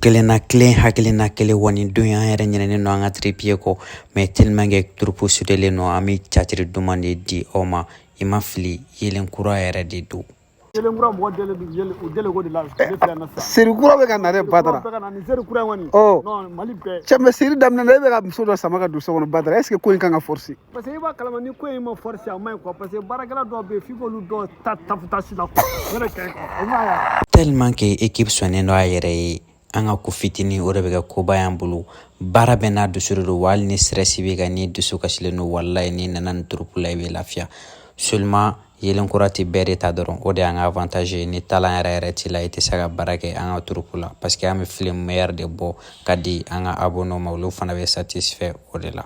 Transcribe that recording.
kelenna kelen hakilina kelen wa nin don an yɛrɛ ɲinɛnen don an ka tiripiye kɔ mais tellement que turupu sudelen don an bɛ catiri duman de di aw ma i ma fili yelen kura yɛrɛ de don kura mɔgɔ dɛlen bi yɛlɛ o dɛlɛ ko de la ne filɛ yan nɔ sisan seri kura bɛ ka na dɛ badara bɛɛ ka na nin seri kura in kɔni ɔ non mali bɛɛ cɛ mais seri daminɛ na e bɛ ka muso dɔ sama ka don so kɔnɔ badara est ce que ko in kan ka forcé parce que i b'a kalama ni ko in ma forcé a ma ɲi quoi parce que baarakɛla dɔw bɛ yen f'i k'olu dɔw ta fɔrɔsi la quoi o de ka ɲi quoi o ma y'a. tellement que équipe sɔnnen don a yɛrɛ ye an ka ko fitinin o de bɛ kɛ koba y'an bolo baara bɛɛ n'a dusu de don wa hali ni stress b'i kan n'i dusu kasilen don walayi n'i nana nin turupu la i bɛ lafiya seulement yelen kura tɛ bɛɛ de ta dɔrɔn o de y'an ka avantage ye ni talan yɛrɛ yɛrɛ t'i la i tɛ se ka baara kɛ an ka turupu la parce que an bɛ film meilleur de bɔ ka di an ka abonnew ma olu fana bɛ satisfait o de la.